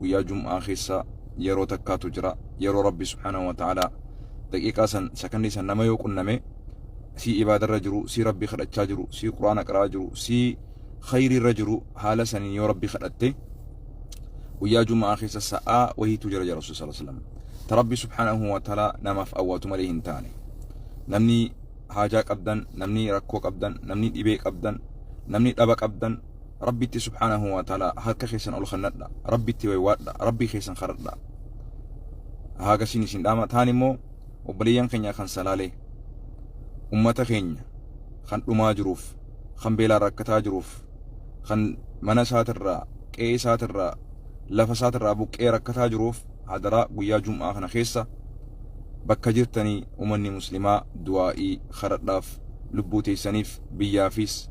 guyyaa jum'aa keessa yeroo takkaatu jira yeroo rabbi subhaanahu wa ta'aalaa daqiiqaa san sakandii san nama yoo qunname sii ibaadarra jiru sii rabbi kadhachaa jiru sii quraana qara'aa jiru sii khayriirra jiru haala saniin yoo rabbi kadhatte guyyaa jum'aa keessa sa'aa wahiitu jira jira rasul sallallahu alaihi wasallam ta rabbi subhaanahu wa ta'aalaa namaaf awwaatu malee hin taane namni haajaa qabdan namni rakkoo qabdan namni dhibee qabdan namni dhaba qabdan Rabbitti subhaanahu wa ta'aalaa harka keessan ol kannadha. Rabbitti waywaadha. Rabbii keessan kadhadha. Haagasiin isin dhaama. Taan immoo obboleeyyan keenya kan salaalee ummata keenya kan dhumaa jiruuf kan beelaan rakkataa jiruuf kan mana isaatirraa qe'ee isaatirraa lafa isaatirraa buqqee rakkataa jiruuf hadaraa guyyaa jum'aa kana keessa bakka jirtanii umanni muslimaa du'aa'ii kadhadhaaf lubbuu teessaniif biyyaafis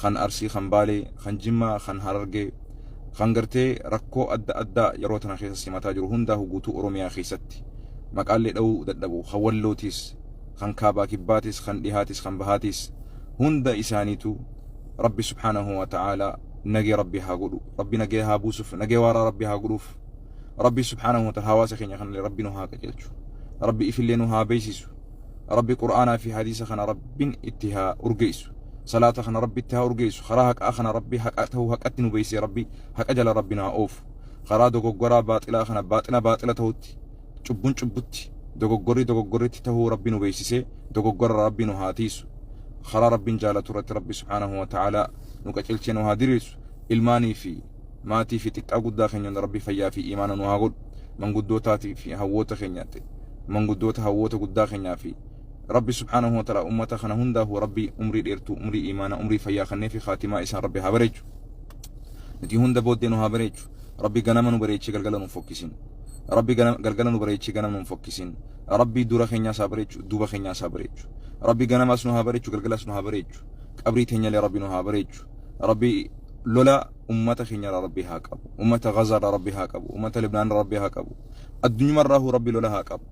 kan Arsii, kan Baalee, kan Jimmaa, kan Harargee, kan gartee rakkoo adda addaa yeroo tana keessa simataa jiru hundaahu guutuu Oromiyaa keessatti maqaallee dhawuu dadhabu, kan Wallootiis, kan Kaabaa Kibbaatis, kan Dhihaatiis, kan Bahaatiis hunda isaaniitu Rabbi subhaanahu wa ta'aalaa nagaya Rabbi haa godhu, Rabbi nagaya haa buusuf, nagaya waaraa Rabbi haa godhuuf, Rabbi subhaanahu wa ta'aalaa hawaasa keenya kanallee Rabbi nu haa qajeelchu, Rabbi ifillee nu haa beeysisu. Rabbi Qur'aanaa fi Hadiisa kana Rabbin itti haa urgeessu. Salaata kana Rabbi itti haa urgeessu. Karaa haqaa kana Rabbi haqa ta'uu haqatti nu beeksisee Rabbi haqa jala Rabbi nu haa oofu. Karaa dogoggoraa baaxilaa kana baaxila baaxila ta'utti, cubbun cubbutti, dogoggorri dogoggorritti ta'uu Rabbi nu beeksisee dogoggorara Rabbi nu haa tiiysu. Karaa Rabbin jaalatu irratti Rabbi subhaanahu wa ta'aalaa nu qacelchee nu haa diriirsu. Ilmaanii fi. maatii fi xiqqaa guddaa keenya hunda rabbi fayyaa fi iimaana nu haa godhu manguddootaati fi hawwoota keenya ta'e manguddoota hawwoota guddaa keenyaa fi rabbi subhaanahu wa ta'ala ummata kana hundaahu rabbi umrii dheertuu umrii iimaana umrii fayyaa kannee fi khaatimaa isaan rabbi haa bareechu nuti hunda booddee nu haa bareechu rabbi ganama nu bareechee galgala nu fokkisin rabbi gana- galgala nu bareechee ganama nu fokkisin rabbi dura keenyaas haa bareechu duuba keenyaas haa bareechu rabbi ganamaas nu haa bareechu galgalaas nu haa bareechu qabrii teenyalee rabbi nu haa bareechu Rabbi lola ummata keenyarraa Rabbi haa qabu. Ummata Gazaarraa Rabbi haa qabu. Ummata Libnaanirraa Rabbi haa qabu. Addunyamarraahuu Rabbi lola haa qabu.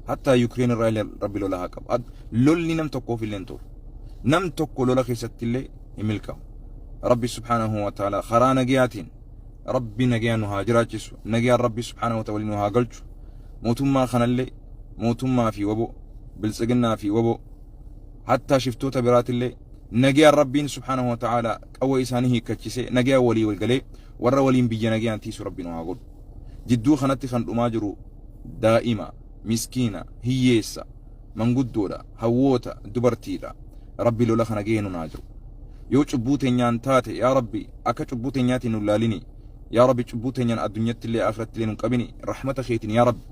Hattaa Yukireen irraa illee Rabbi lola haa qabu. Ad- Lolli nam tokkoof illee hin tolu. Nam tokko lola keessatti illee hin milkaa'u. Rabbi subhaanahu wa ta'ala karaa nagayaatiin Rabbi nagayaan nu haa jiraachisu. Nagayaan Rabbi subhaanahu wa ta'ala waliin nu haa galchu. Mootummaa kanallee mootummaa fi waboo biltsiginnaa fi waboo hattaa shiftoota biraatillee Nagayaan Rabbiin subhaanahu wa ta'aalaa qawwee isaanii hiikkachisee nagayaan walii wal galee warra waliin biyya nagayaan tiisu Rabbi nu haa godhu. Jidduu kanatti kan dhumaa jiru daa'ima, miskiina, hiyyeessa, manguddoodha, hawwoota, dubartiidha. Rabbi lola kana gahee nun haa jiru. Yoo cubbuu teenyaan taate yaa Rabbi akka cubbuu teenyaatiin nun laalini. Yaa Rabbi cubbuu teenyaan addunyatti illee akhiratti illee nun qabini. Rahmata keetiin yaa Rabbi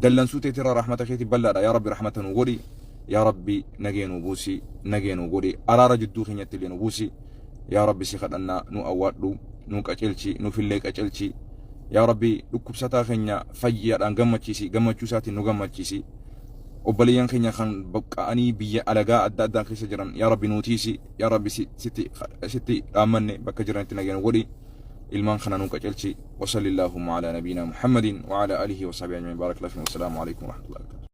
dallansuu teetirraa rahmata keetiin bal'aadha yaa Rabbi rahmata nu godhi. yaa rabbi nagee nuu buusi nagee nuu godhi araara jidduu keenyatti illee nu buusi yaa rabbi si kadhannaa nu awwaadhu nu qacelchi nuufillee qacelchi yaa rabbi dhukkubsataa keenya fayyaadhaan gammachiisi gammachuu isaatiin nu gammachiisi obboleeyyan keenya kan baqqa'anii biyya alagaa adda addaa keessa jiran yaa rabbi nuutiisi yaa rabbi sitti dhaammanne bakka jiranitti nagee nu godhi ilmaan kana nu qacelchi wasalli allaahumma alaa nabiinaa muhammadin wa alaa alihi wa sahbihi ajmain baarak lafiin wasalaamu alaikum warahmatullahi wabarakatuh